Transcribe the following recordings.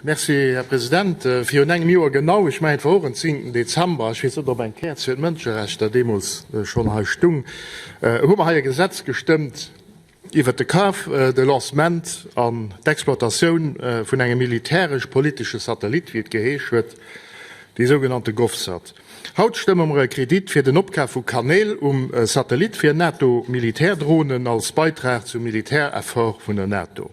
Merci, Här President. Virun engem Joer genau, ech mengen, et war och en 10. Dezember, ech weess net, ob eng Käerz fir d'Mënscherechter deemools schonn hei stung, hu mer hei e Gesetz gestëmmt iwwert de Kaf, de Lancement an d'Exploitatioun vun engem militäresch-politesche Satellit, wéi et geheesch huet, dee sougenannte Govsat. Haut stëmme mer e Kredit fir den Opkaf vu Kanäl um Satellit fir NATO-Militärdronen als Beitrag zum Militäreffort vun der NATO.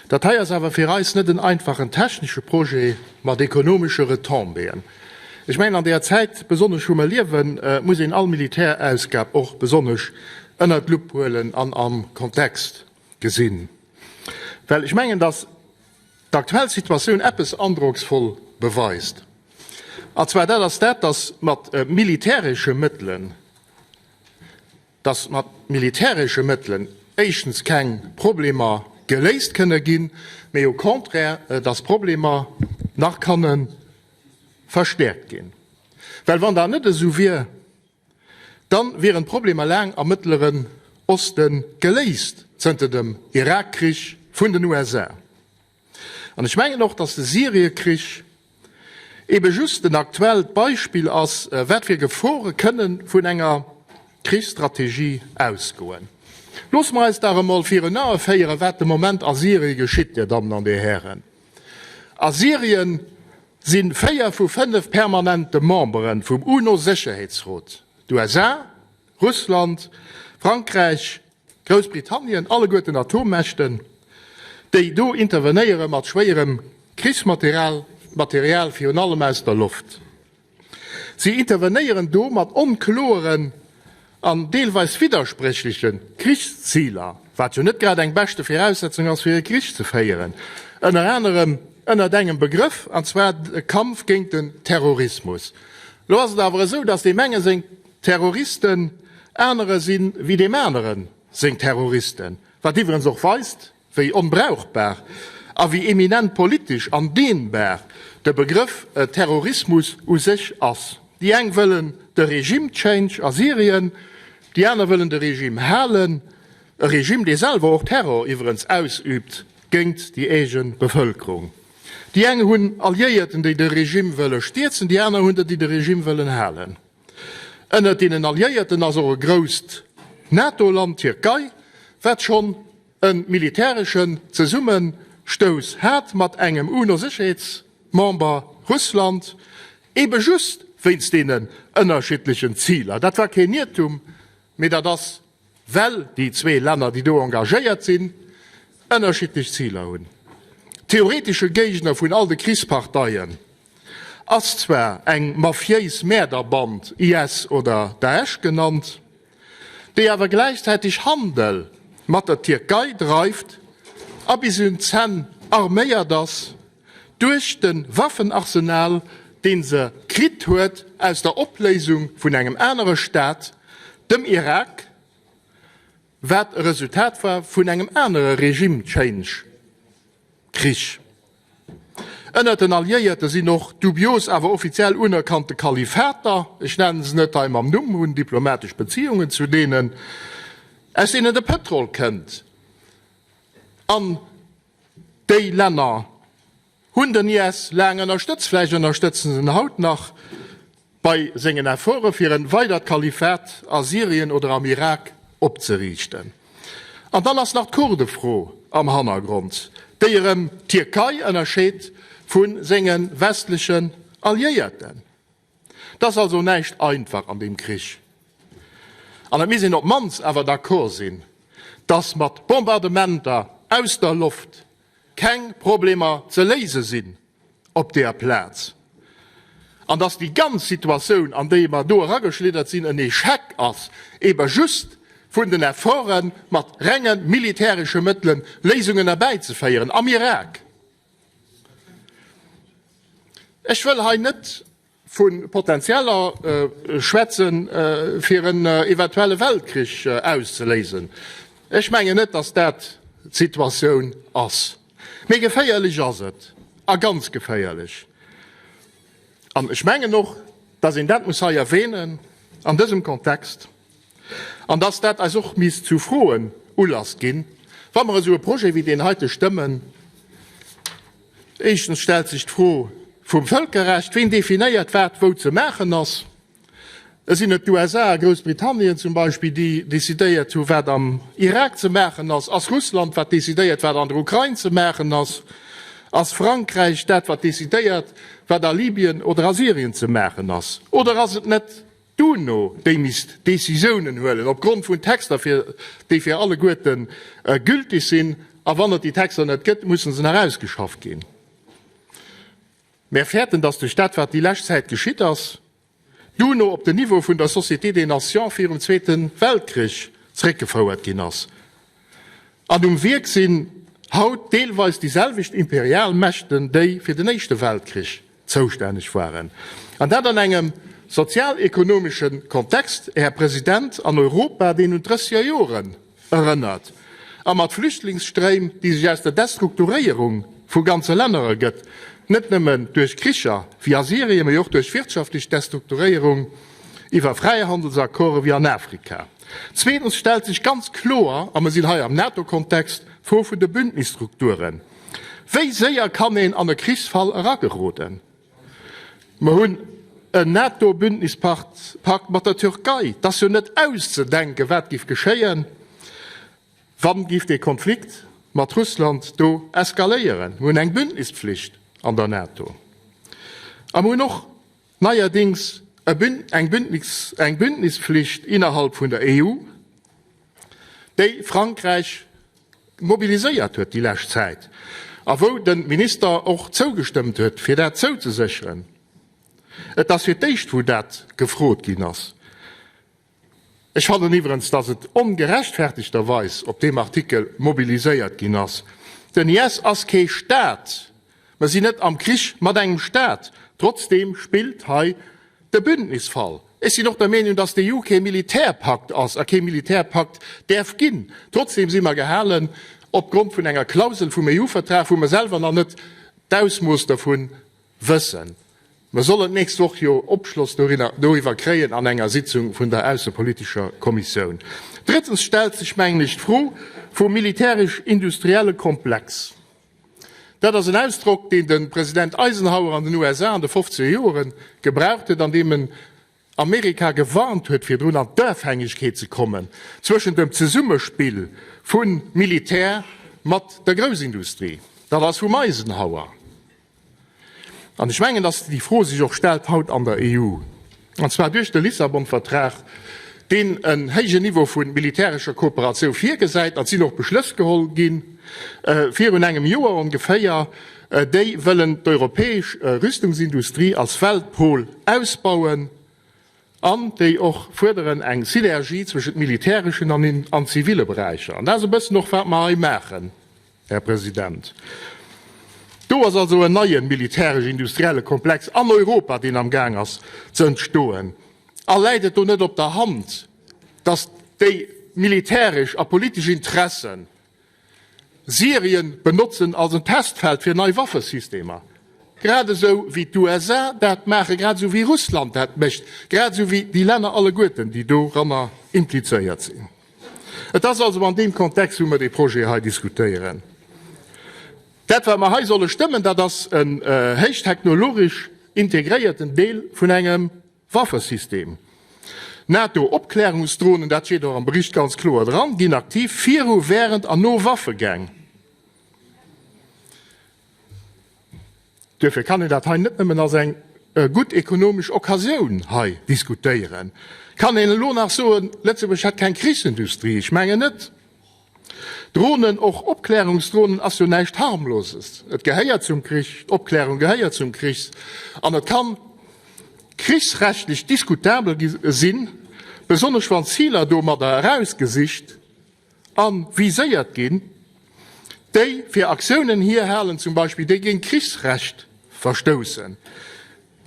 Dat hei ass awer fir eis net en einfachen technesche Projet mat ekonomesche Retombéeën. Ech mengen, an där Zäit, besonnesch wou mer liewen, muss een all Militärausgab och besonnesch ënnert d'Lupp huelen an am Kontext gesinn, well ech mengen, dass d'aktuell Situatioun eppes androcksvoll beweist, an zwar dat ass dat, dass mat militäresche Mëttelen, dass mat militäresche Mëttelen éischtens keng Problemer geléist kënne ginn, mee au contraire, dass d'Problemer nach kanne verstäerkt ginn. Well wann dat net esou wier, da wieren d'Problemer laang am Mëttleren Oste geléist, zënter dem Irakkrich vun den USA. An ech mengen och, dass de Syriekrich eebe just en aktuellt Beispill ass, wat fir Gefore kënne vun enger Krichsstrategie ausgoen. Loosse mer eis dach emol virun Ae féieren, wat de Moment a Syrie geschitt, Dir Dammen an Dir Hären. A Syrien si véier vu fënnef permanente Membere vum UNO-Sécherheetsrot, d'USA, Russland, Frankräich, Groussbritannien, alleguerten Atommächten, déi do intervenéiere mat schwéierem Krichsmaterial, Material virun allem aus der Loft. Si intervenéieren do mat onkloeren an deelweis widderspréchleche Krichsziler, wat jo net grad eng beschte Viraussetzung ass, fir e Krich ze féieren, ënner anerem ënnert engem Begrëff, an zwar de Kampf géint den Terrorismus. Elo ass et awer esou, datt deem enge seng. Terroristen, anere si wéi deem anere seng Terroristen, wat iwwerens och weist, wéi onbrauchbar a wéi eminent politesch an dehnbar de Begrëff Terrorismus u sech ass. Déi eng wëllen de Regime change a Syrien, déi aner wëllen de Regime halen, e Regime, dee selwer och Terror iwwerens ausübt géint déi eege Bevëlkerung. Déi eng hunn Alliéierten, déi de Regime wëlle stierzen, déi aner hunn der, déi de Regime wëllen halen. Ënnert deenen Alliéierten ass och e grousst NATO-Land, d'Tierkei, wat schonn e militäreschen Zesummestouss hat mat engem UNO-Sécherheetsmember, Russland, ebe just wéinst deenen ënnerschiddlechen Ziler. Dat war keen Iertum, mee dat ass Well déi zwee Länner, déi do engagéiert sinn, ënnerschiddlech Ziler hunn. Theoretesche Géigner vun all de Krichsparteien ass zwar eng mafiéis Mäerderband, IS oder Daesch genannt, déi awer gläichzäiteg Handel mat der Tierkei dreift a bis un d'Zänn arméiert ass. Duerch den Waffenarsenal deen se kritt huet aus der Opléisung vun engem anere Staat, dem Irak, wat e Resultat war vun engem anere Regime Change Krich ënnert den Alliéierten, sinn och dubios awer offiziell unerkannte Kalifater, ech nennen se net hei mam Numm, hunn diplomatesch Beziehungen zu deenen, aus deenen de Pëtrol kënnt an. Déi Länner hunn den IS laang ënnerstëtzt, vläicht ënnerstëtzen se en haut nach bei sengen Efforte fir en weidert Kalifat a Syrien oder am Irak opzeriichten. An dann ass nach d'Kurdefro am Hannergrond, déi erëm d'Tierkei ënnerscheet vu senge westlechen Alliéierten. 't ass also näischt einfach an deem Krich. An et misst een op d'mannst awer d'accord sinn, dass mat Bombardementer aus der Loft keng Problemer ze léise sinn op deer Plaz. An dass déi ganz Situatioun, an déi mer do erageschliddert sinn, en Echec ass, ebe just vun den Efforten, mat renge militäresche Mëttele Léisungen erbäizeféieren am Irak. Ech wëll hei net vu Potentieller schwätzen, fir en eventuelle Weltkrich auszeléisen. Ech mengen net, dass dat d'Situatioun ass. Mee geféierlech ass et, a ganz geféierlech. An ech mengen och, dass een dat muss hei erwähnen an dësem Kontext. An dass dat eis och misst zu Froen Ulass ginn, wa mer esou e Projet wéi deen heite stëmmen. Éischtens stellt sech d'Fro vum Völkerrecht. Ween definéiert, wat wou ze maachen ass? Et sinn et d'USA a Groussbritannien zum Beispill, déi decidéiert hu wat am Irak ze maachen ass? Ass Russland, wat decidéiert wat an der Ukrain ze maachen ass? Ass Frankräich dat, wat decidéiert wat a Libyen oder a Syrien ze maachen ass? Oder ass et net D'UNO, déi misst Decisiounen huelen op Grond vun Texter, fir déi fir alleguerten gültig sinn, a wann et déi Texter net gëtt, mussen se nach ausgeschafft ginn. Mär fäerten, dass duerch dat, wat déi lescht Zäit geschitt ass, d'UNO op den Niveau vun der Société des Nations virum Zweete Weltkrich zréckgefouert ginn ass. An um Wierk sinn haut deelweis déi selwecht imperial Mächten, déi fir den Éischte Weltkrich zoustänneg waren. An dat an engem sozial-ekonomesche Kontext, Här President, an Europa, deen un d'Drësseger Joren erënnert, a mat Flüchtlingsstréim, déi sech aus der Destrukturéierung vu ganze Länner ergëtt, net nëmme duerch Kricher wéi a Syrien, mee och duerch wirtschaftlech Destrukturéierung iwwer Fräihandelsaccorde wéi an Afrika. Zweetens stellt sech ganz kloer, a mer sinn hei am NATO-Kontext, d'Fro vun de Bündnisstrukturen. Wéi séier kann een an e Krichsfall erageroden? Mer hunn en NATO-Bündnispakt mat der Türkei. Et ass jo net auszedenken, wat géif geschéien, wa géif dee Konflikt mat Russland do eskaléieren. Mir hunn eng Bündnispflicht an der NATO. A mer hunn och Neierdings eng Bündnisflicht innerhalb vun der EU, déi Frankräich mobiliséiert huet déi lescht Zäit a wou de Minister och zougestëmmt huet, fir dat zouzesécheren. Et ass fir d'éischt, wou dat gefrot ginn ass. Ech fannen iwwerens, dass et ongerechtfertegterweis op deem Artikel mobiliséiert ginn ass. Den IS ass kee Staat, mer sinn net am Krich mat engem Staat. Trotzdeem spillt hei de Bündnisfall. Ech sinn och der Meenung, dass d'EU kee Militärpakt ass a kee Militärpakt däerf ginn. Trotzdeem si mer gehalen, opgrond vun enger Klausel vum EU-Vertrag, wou mer selwer nach net d'Ausmooss dervun Wëssen. Mer sollen d'nächst Woch jo Opschloss dorinner, doriwwer kréien an enger Sitzung vun der aussepolitischer Kommissioun. Drëttens stellt sech, mengen ech, d'Fro vum militärisch-industrielle Komplex. Dat ass en Ausdrock, deen de President Eisenhower an den USA an de fofzeger Joren gebraucht huet an deem en Amerika gewarnt huet virdrun an d'Afhängegkeet ze kommen zwëschen dem Zesummespill vun Militär mat der Groussindustrie. Dat ass vum Eisenhower. An ech mengen, dass déi Fro sech och stellt haut an der EU, an zwar duerch de Lissabon-Vertrag, deen en héijen Niveau vun militärescher Kooperatioun virgesäit. Et sinn och Beschlëss geholl gi virun engem Joer ongeféier, Déi wëllen d'europäesch Rüstungsindustrie als Weltpol ausbauen an déi och fuerderen eng Synergie zwëschent militäreschen an zivile Beräicher. An dat ass e bëssen och wat mer hei maachen, Här President. Do ass also en neien militäresch-industrielle Komplex an Europa, deen am Gaang ass ze entstoen. A läit et do net op der Hand, dass déi militäresch a politesch Interessen Syrien benotzen als en Testfeld fir nei Waffesystemer, grad esou wéi d'USA dat maachen, grad esou wéi Russland dat mécht, grad esou wéi déi Länner alleguerten, déi doranner implizéiert sinn. Et ass also an deem Kontext, wou mer dee Projet hei diskutéieren. Dat, wat mer hei solle stëmmen, dat ass en héichtechnologesch integréierten Deel vun engem Waffesystem. NATO-Opklärungsdronen, dat steet och am Bericht ganz kloer dran, ginn aktiv viru, wärend an no Waffegäng. Duerfir kann een dat hei net nëmmen als eng gutt ekonomesch Occasioun hei diskutéieren. Kann een elo nach soen, Lëtzebuerg hätt keng Krichsindustrie? Ech mengen net. Dronen, och Opklärungsdronen, ass jo näischt Harmloses. Et gehéiert zum Krich, d'Opklärung gehéiert zum Krich an et kann krichsrechtlech diskutabel sinn, besonnesch wann Ziler domadder erausgesicht a viséiert ginn, déi fir Aktiounen hierhalen zum Beispill, déi géint d'Krichsrecht verstoussen.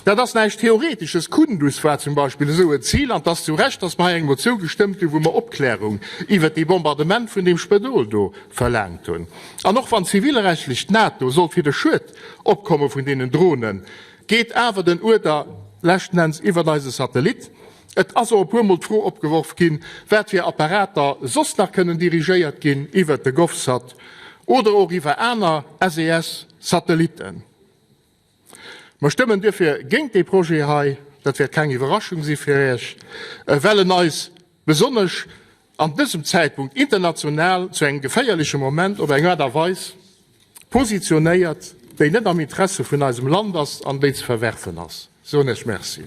Dat ass näischt Theoretisches. Kundus war zum Beispill esou en Zil, an 't ass zu Recht, datt mer hei eng Motioun gestëmmt hunn, wou mer Opklärung iwwert dee Bombardement vun deem Spëdol do verlaangt hunn. An och wann zivilrechtlech d'NATO sollt fir de Schued opkomme vun deenen Dronen, geet awer den Uerder leschten Enns iwwert eise Satellit. Et ass och e puermol d'Fro opgeworf ginn, wat fir Apparater soss nach kënnen dirigéiert ginn iwwert de Govsat oder och iwwer aner SES-Satellitten. Mer stëmmen duerfir géint dee Projet hei, dat wäert keng Iwwerraschung si fir Iech, well en eis besonnesch an dësem Zäitpunkt international zu engem geféierleche Moment op eng Aart a Weis positionéiert, déi net am Interesse vun eisem Land ass an déi ze verwerfen ass, soen Iech Merci.